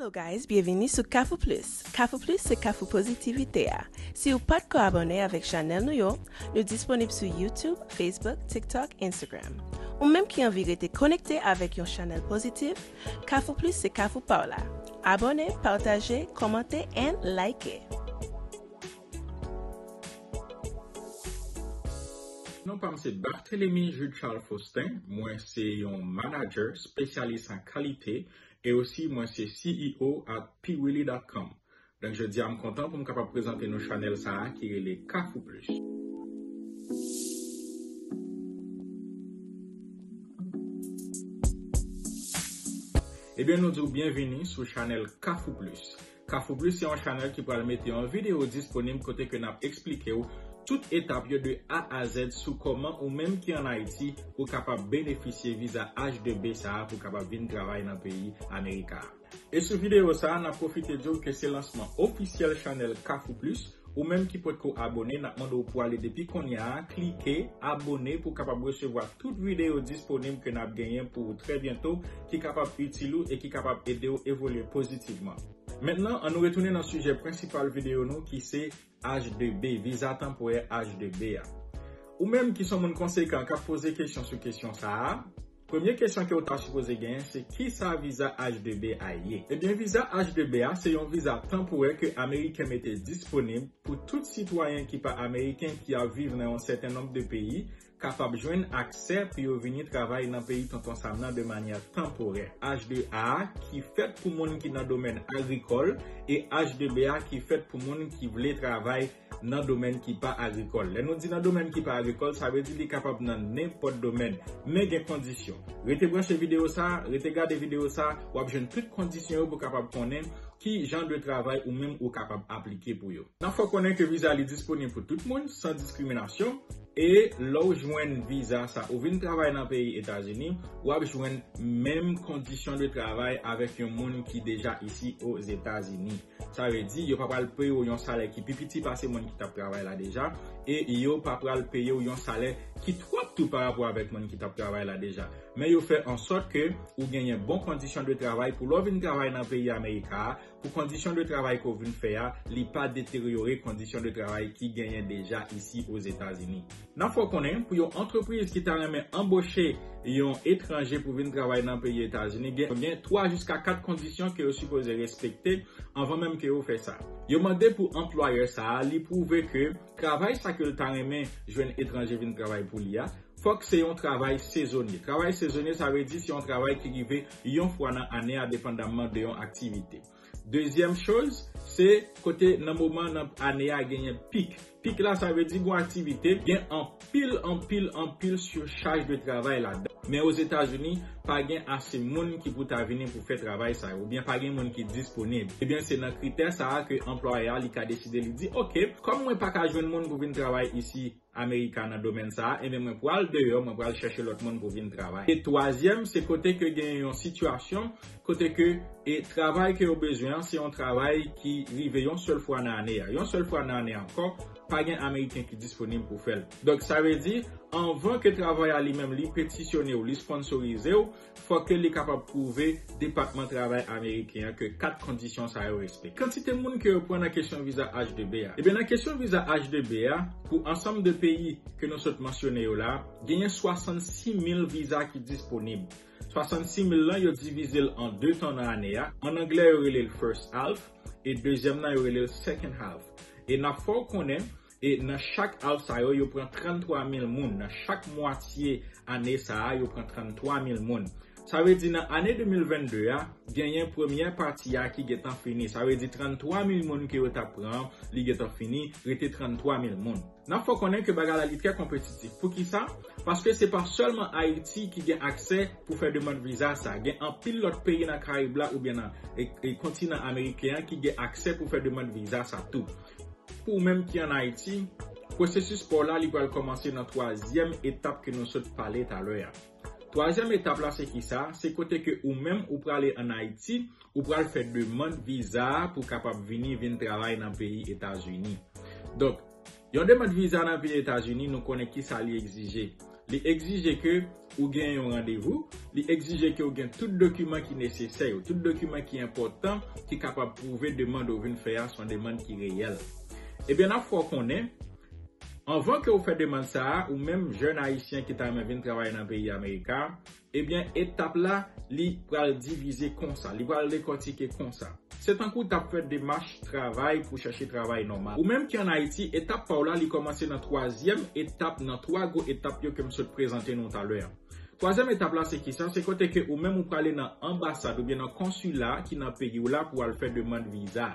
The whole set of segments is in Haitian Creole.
Hello guys, byevini sou Kafou Plus. Kafou Plus se kafou pozitivite a. Si ou pat ko abòne avèk chanèl nou yo, nou disponib sou YouTube, Facebook, TikTok, Instagram. Ou menm ki anvi rete konekte avèk yon chanèl pozitif, Kafou Plus se kafou pa w la. Abòne, pataje, kòmante and like! Non pa m se Barthelemy Jude Charles Faustin, mwen se yon manager spesyalis an kalite e osi mwen se CEO at Piwili.com. Donk jodi a m kontan pou m kapab prezante nou chanèl sa a ki rele Kafou Plus. Ebyen nou di w byenvini sou chanèl Kafou Plus. Kafou Plus se yon chanèl ki pral mete yon videyo disponib kote ke nap eksplike w tout etap yo de A a Z sou kòman ou menm ki an Ayiti ou kapab benefisye viza H2B sa a pou kapab vin travay nan peyi America a. E sou videyo sa a nap pwofite di w ke se lansman ofisyèl chanèl Kafou Plus, Ou menm ki potko abone nap mande w pou ale depi konnya a klike abone pou kapab resevwa tout videyo disponib ke nap genyen pou ou trè byento ki kapab itil ou e ki kapab ede w evolye pozitivman. Mentnan an nou retounen nan sijè prensipal videyo nou ki se H2B, viza tanporè H2B a. Ou menm ki son moun konsekan kap poze kesyon sou kesyon sa a, Premye kesyon ke ou ta sipoze genyen se kisa viza H2B a ye? Ebyen viza H2B a se yon viza tanporè ke ameriken mete disponib pou tout sitwayen ki pa ameriken ki ap viv nan yon sèten nonb de peyi kapab jwenn aksè pou yo vini travay nan peyi tonton sam nan de manyè tanporè. H2A a ki fèt pou moun ki nan domèn agrikòl e H2B a ki fèt pou moun ki vle travay nan domèn ki pa agrikòl. Lè nou di nan domèn ki pa agrikòl, sa vle di li kapab nan nenpòt domèn. Men gen kondisyon. Rete branche videyo sa, rete gade videyo sa, w ap jwenn tout kondisyon yo pou kapab konnen ki jan de travay ou menm ou kapab aplike pou yo. Nan fè w konnen ke viza li disponib pou tout moun, san diskriminasyon, e lè w jwenn viza sa, ou vin travay nan peyi Etazini, w ap jwenn menm kondisyon de travay avèk yon moun ki deja isi Ozetazini. Sa vle di, yo pa pral peye w yon salè ki pi piti pase moun ki t ap travay la deja, e yo pa pral peye w yon salè ki twòp tou parapò avèk moun ki t ap travay la deja. Men yo fè ansòt ke ou genyen bon kondisyon de travay pou lè w vin travay nan peyi Amerika a, pou kondisyon de travay ke w vin fè a, li pa deteryore kondisyon de travay ki genyen deja isi Ozetazini. N ap fè w konnen, pou yon antrepriz ki ta renmen anboche yon etranje pou vin travay nan peyi Etazini, gen 3 jiska 4 kondisyon ke yo sipoze respekte anvan menm ke yo fè sa. Yo mande pou anplwayè sa a li pwouve ke travay sa ke l ta renmen jwenn etranje vin travay pou li a, fòk se yon travay sezonye. Travay sezonye sa vle di se yon travay ki rive yon fwa nan ane a depandamman de yon aktivite. Dezyèm choz, se kote nan moman nan ane a genyen pik. Pik la sa vle di gon aktivite, gen anpil, anpil, anpil surchaj de travay ladan. Men Ozetazini, pa gen ase moun ki pou ta vini pou fè travay sa yo, oubyen pa gen moun ki disponib. Ebyen se nan kritè sa a ke anplwayè a li ka deside li di, ok, kòm mwen pa ka jwenn moun pou vin travay isi, America nan domèn sa a, enben mwen pral deyò, mwen pral chèche lòt moun pou vin travay. E twazyèm, se kote ke gen yon sitiyasyon, kote ke e travay ke yo bezwen an, se yon travay ki rive yon sèl fwa nan ane a. Yon sèl fwa nan ane ankò, pa gen Ameriken ki disponib pou fè l. Donk sa vle di, anvan ke travay a li menm li petisyone ou, li sponsorize ou, Fò ke li kapab pwouve Depatman Travay Ameriken an ke 4 kondisyon sa yo respekte. Kantite moun ke yo pran nan kesyon viza H-2B a. Ebyen nan kesyon viza H-2B a, pou ansanm de peyi ke nou sot mansyone yo la, genyen 66 mil viza ki disponib. 66 mil lan yo divize l an 2 tan nan ane a, an anglè yo rele l first half, e dezyèm nan yo rele l second half. E n ap fè w konnen, E nan chak Half sa yo, yo pran 33 mil moun. Nan chak mwatye ane sa a, yo pran 33 mil moun. Sa vle di nan ane 2022 a, genyen premyè pati a ki gentan fini. Sa vle di 33 mil moun ke yo tap pran an, li gentan fini, rete 33 mil moun. Nap fè w konnen ke bagay la li trè konpetitif. Poukisa? Paske se pa sèlman Ayiti ki gen aksè pou fè demand viza sa a. Gen anpil lòt peyi nan Karayib la oubyen nan kontinan ameriken an ki gen aksè pou fè demand viza sa tou. Pou ou menm ki an Ayiti, pwosesis pa w la li pral kòmanse nan twazyèm etap ke nou sot pale talè a. Twazyèm etap la se kisa? Se kote ke ou menm ou prale an Ayiti, ou pral fè demand viza a pou kapab vini vin travay nan peyi Etazini. Donk, yon demand viza nan peyi Etazini nou konnen kisa li egzije. Li egzije ke ou gen yon randevou, li egzije ke ou gen tout dokiman ki nesesè yo, tout dokiman ki enpòtan ki kapab pwouve demand ou vin fè a son demand ki reyèl. Ebyen n ap fè w konnen, anvan ke ou fè demand sa a, ou menm jèn ayisyen ki ta renmen vin travay nan peyi Amerika, Ebyen etap la li pral divize konsa, li pral dekòtike konsa. Se tankou tap fè demach travay pou chache travay nòmal. Ou menm ki an Ayiti, etap pa w la li kòmanse nan twazyèm etap nan twa gwo etap yo ke m sot prezante nou talè an. Twazyèm etap la se kisa? Se kote ke ou menm ou prale nan anbasad oubyen nan konsila ki nan peyi w la pou al fè demand viza.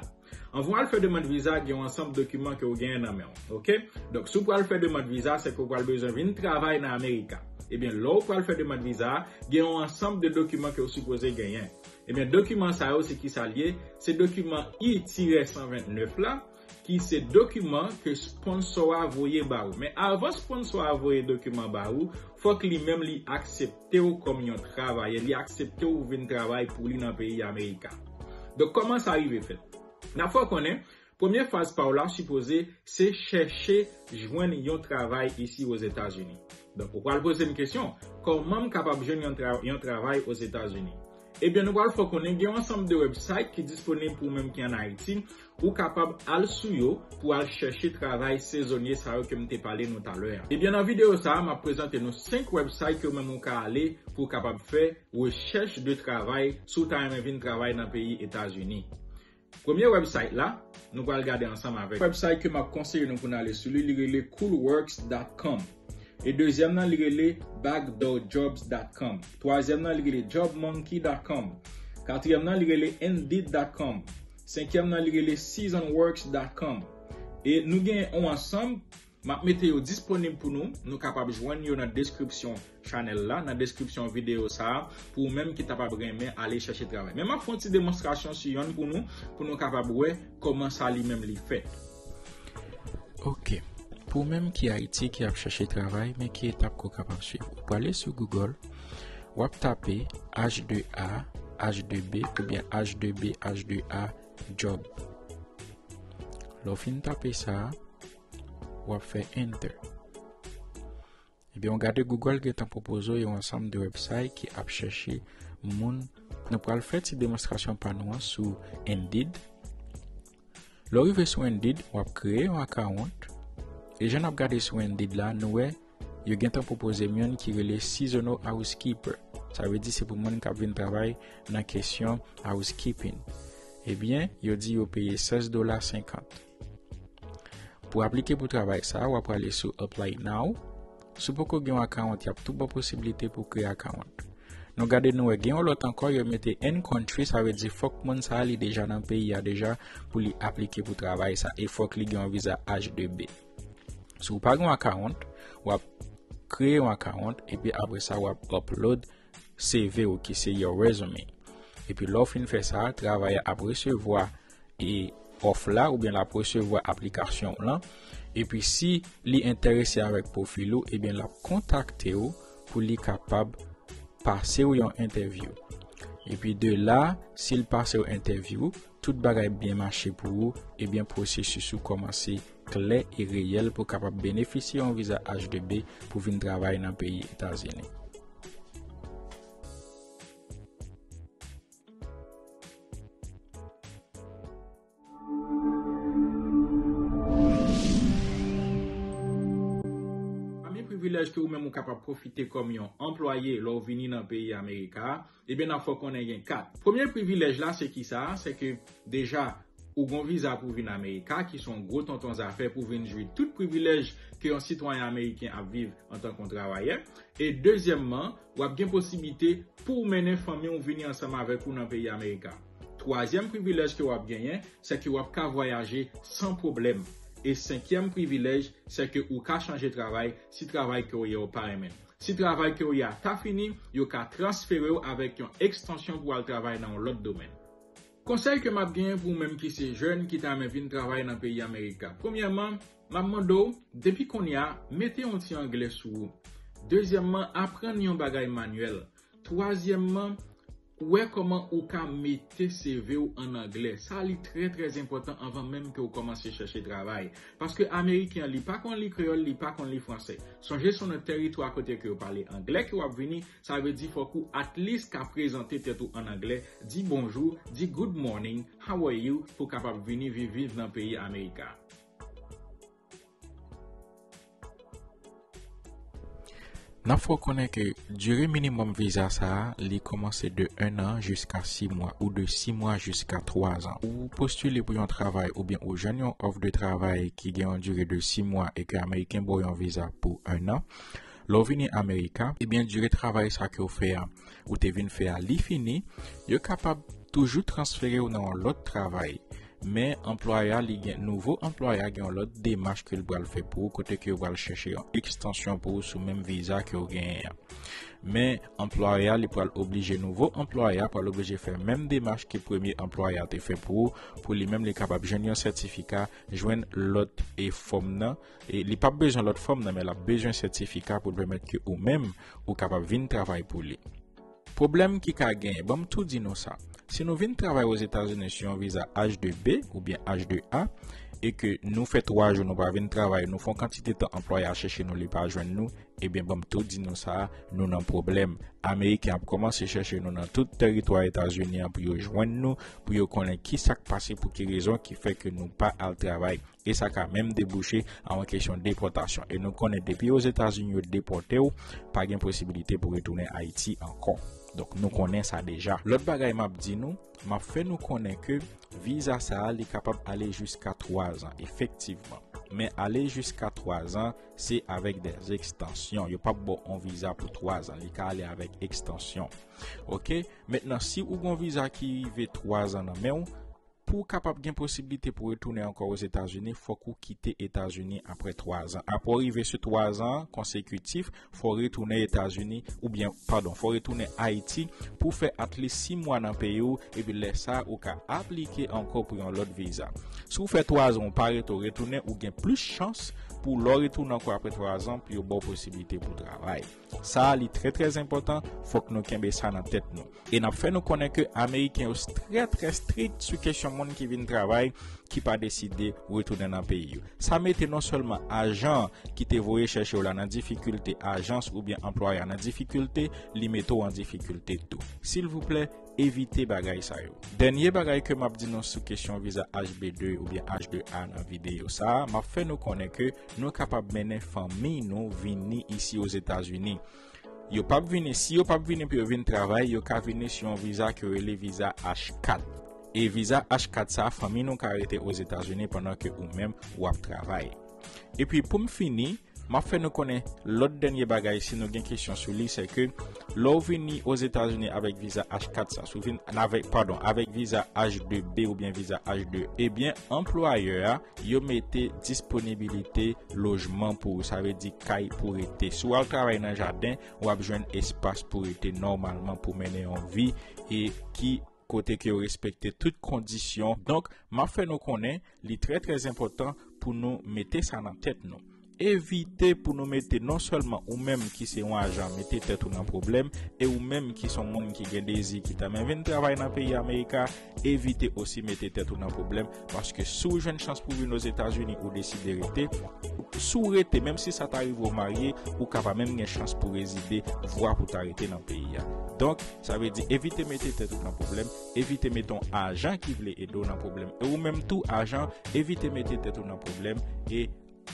Anvan w al fè demand viza gen yon ansanm dokiman ke ou genyen nan men w ok donk si w pral fè demand viza se ke w pral bezwen vin travay nan amerika ebyen lè w pral fè demand viza gen yon ansanm de dokiman ke w sipoze genyen ebyen dokiman sa yo se kisa l ye se dokiman I tirè 129 la ki se dokiman ke sponsò a voye ba ou men avan sponsò a voye dokiman ba ou fòk li menm li aksepte. te w kòm yon travayè, li aksepte w vin travay pou li nan peyi Amerika. Donk kòman sa rive fèt? N ap fè w konnen, premye faz pa w la sipoze se chèche jwenn yon travay isi Ozetazini. Donk ou pral poze m kesyon, kòman m kapab jwenn yon travay Ozetazini? Ebyen nou pral fè w konnen gen yon ansanm de wèbsayt ki disponib pou ou menm ki an Ayiti Ou kapab al sou yo pou al chèche travay sezonye sa yo ke m te pale nou talè a. Ebyen nan videyo sa a m ap prezante nou 5 website ke ou menm ou ka ale pou w kapab fè rechèch de travay si w ta renmen vin travay nan peyi Etazini. Premye website la nou pral gade ansanm avèk. Website ke m ap konseye nou pou n ale sou li, li rele coolworks.com. E dezyèm nan li rele backdoorjobs.com. Twazyèm nan li rele jobmonkey.com. Katriyèm nan li rele indeed.com. Senkyèm nan li rele seasonworks dot com e nou gen on ansanm map mete yo disponib pou nou, nou kapab jwenn yo nan deskripsyon chanèl la, nan deskripsyon videyo sa a pou ou menm ki ta pab renmen ale chèche travay men map fon ti demonstrasyon sou yonn pou nou, pou nou kapab wè kòman sa li menm li fèt. Ok, pou ou menm ki Ayiti ki ap chèche travay men ki etap ko kapab swiv. Ou pwale sou Google, wap tape H2A, H2B, oubyen H2B, H2A, job. Lò fin tape sa, wap fè enter. Ebyen w gade Google gentan pwopoze w yon ansanm de website ki ap chèche moun. Nou pral fè ti demonstrasyon pa nou an sou Indeed. Lè w rive sou Indeed, w ap kreye yon akawont. E jan n ap gade sou Indeed la, nou wè yo gentan pwopoze m youn ki rele Seasonal Housekeeper. Sa vle di se pou moun k ap vin travay nan kesyon housekeeping. Ebyen, yo di yo peye 16 dola 50. Pou aplike pou travay sa, wap prale sou Apply Now. Sou poko gen yon akawont, yap tou ba posibilite pou kreye akawont. Nou gade nou wè gen yon lòt ankò yo mete in country sa vle di fòk moun sa li deja nan peyi a deja pou li aplike pou travay sa e fòk li gen yon viza H2B. Si w pa gen yon akawont, wap kreye yon akawont epi apre sa wap upload CV ou ki se your resume. Epi lè w fin fè sa, travayè a ap resevwa e òf la oubyen l ap resevwa aplikasyon w lan. Epi si li enterese avèk pwofil ou, ebyen l ap kontakte w pou li kapab pase w yon entèvyou. Epi de la, si l pase w entèvyou, Tout bagay byen mache pou ou, ebyen pwosesis ou kòmanse klè e reyèl pou kapab benefisye yon viza H2B pou vin travay nan peyi Etazini. Pami privilèj ke ou menm ou kapab pwofite kòm yon anplwaye lè ou vini nan peyi Amerika a, Ebyen nap fè w konnen gen 4. Premye privilèj la se kisa? Se ke deja ou gon viza pou vin America ki son gwo tonton zafè pou vin jwi tout privilèj ke yon sitwayen ameriken ap viv antan kon travayè. E dezyèmman, wap gen posibite pouw mennen fanmi w vini ansanm avèk ou nan peyi America. Twazyèm privilèj ke wap genyen se ke wap ka vwayaje san pwoblèm. E senkyèm privilèj se ke ou ka chanje travay si travay ke w ye w pa renmen l. Si travay ke w ye a ta fini, yo ka transfere w avèk yon ekstansyon pou w al travay nan yon lòt domèn. Konsèy ke m ap genyen pou ou menm ki se jèn ki ta renmen vin travay nan peyi Amerika, premyèman, m ap mande w, depi kounye a, mete yon ti anglè sou ou. Dezyèmman, aprann yon bagay manyèl. Twazyèmman. Ou wè kòman ou ka mete CV ou an anglè. Sa li trè trè enpòtan anvan menm ke ou kòmanse chèche travay. Paske ameriken an li pa konn li kreyòl, li pa konn li fransè. Sonje son nan tèritwa kote ke yo pale anglè ke wap vini, sa vle di fòk ou at least ka prezante tèt ou an anglè, di bonjou, di good morning, how are you pou kapab vini viv viv nan peyi America. N ap fè w konnen ke dire minimòm viza sa a li kòmanse de 1 an jiska 6 mwa ou de 6 mwa jiska 3 an. Ou postile pou yon travay oubyen ou jwenn yon òf de travay ki gen yon dire de 6 mwa e ke ameriken ba w yon viza pou 1 an. Lè w vini amerika, ebyen dire travay sa ke w fè a ou te vin fè a li fini, yo kapab toujou transfere ou nan yon lòt travay. Men, anplwayè a li gen, nouvo anplwayè a gen yon lòt demach ke li pral fè pou ou kote ke yo pral chèche yon ekstansyon pou ou sou menm viza ke ou genyen an. Men, anplwayè a li pral oblije, nouvo anplwayè a pral oblije fè menm demach ke premye anplwayè a te fè pou ou, pou li menm li kapab jwenn yon sètifika, jwenn lòt e fòm nan. E li pap bezwen lòt fòm nan men lap bezwen sètifika pou l pèmèt ke ou menm ou kapab vin travay pou li. Pwoblèm ki ka genyen, banm tou di nou sa, si nou vin travay Ozetazini sou yon viza H2B oubyen H2A e ke nou fè 3 jou nou pa vin travay, nou fon kantite tan anplwayè a chèche nou li pa jwenn nou, ebyen banm tou di nou sa, nou nan pwoblèm. Ameriken ap kòmanse chèche nou nan tout tèritwa Etazini an pou yo jwenn nou, pou yo konnen kisak pase pou ki rezon ki fè ke nou pa al travay. e sa ka menm debouche a yon kesyon depòtasyon e nou konnen depi ozetazini yo depòte w pa gen posibilite pou retounen ayiti ankò donk nou konnen sa deja lòt bagay m ap di nou m ap fè nou konnen ke viza sa a li kapab ale jiska 3 zan efektivman men ale jiska 3 zan se avèk dè ekstansyon yo p ap ba w yon viza pou 3 zan li ka ale avèk ekstansyon ok mentnan si ou gen yon viza ki rive 3 zan nan men w Pou w kapab gen posiblite pou retounen ankò Ozetazini, fòk ou kite Etazini apre 3 zan. Apre w rive sou 3 zan konsekitif, fò w retounen Etazini, oubyen, padon, fò w retounen Ayiti pou w fè atlis 6 mwa nan peyi w, epi lè sa ou ka aplike ankò pou yon lòt viza. Si w fè 3 zan ou pa rete ou retounen, ou gen plis chans pou lè w retounen ankò apre 3 zan pou yo ba w posiblite pou w travay. Sa a li trè trè enpòtan, fòk nou kenbe sa nan tèt nou. E n ap fè nou konnen ke Ameriken yo trè trè strik sou kesyon moun ki vin travay ki pa deside retounen nan peyi yo. Sa mete non sèlman ajan ki te voye chèche w la nan difikilte, ajans oubyen anplwaya nan difikilte, li mete w an difikilte tou. Silvouplè, Evite bagay sa yo. Dènye bagay ke map di nou sou kesyon viza HB2 oubyen H2A nan videyo sa, map fè nou konnen ke nou kapab mennen fanmi nou vini isi Ozetazini. Yo pap vini, si yo pap vini pou yo vin travay, yo ka vini sou yon viza ke yo rele viza H4. E viza H4 sa, fanmi nou ka rete Ozetazini pandan ke ou menm wap travay. Epi poum fini. Map fè nou konnen lòt dènye bagay si nou gen kesyon sou li se ke lè w vini Ozetazini avèk viza H4 sa si w vin avèk padon avèk viza H2B oubyen viza H2 ebyen anplwayè a yo mete disponibilite lojman pou ou sa vle di kay pou rete si w al travay nan jaden wap jwenn espas pou rete nòmalman pou mennen yon vi e ki kote ke yo respekte tout kondisyon, donk map fè nou konnen li trè trè enpòtan pou nou mete sa nan tèt nou, evite pou nou mete non sèlman ou menm ki se yon ajan mete tèt ou nan pwoblèm e ou menm ki son moun ki gen dezi ki ta men vin travay nan peyi America evite osi mete tèt ou nan pwoblèm. Paske si w jwenn chans pou vin Ozetazini ou deside rete, si w rete menm si sa ta rive w marye, ou ka pa menm gen chans pou rezide, vwa pou ta rete nan peyi a. Donk, sa vle di evite mete tèt ou nan pwoblèm, evite mete yon ajan ki vle ede w nan pwoblèm. E ou menm tou, ajan, evite mete tèt ou nan pwoblèm e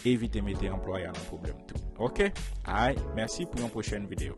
evite mete anplwayè a nan pwoblèm tou. Ok? Ay, mèsi pou yon pwochèn videyo.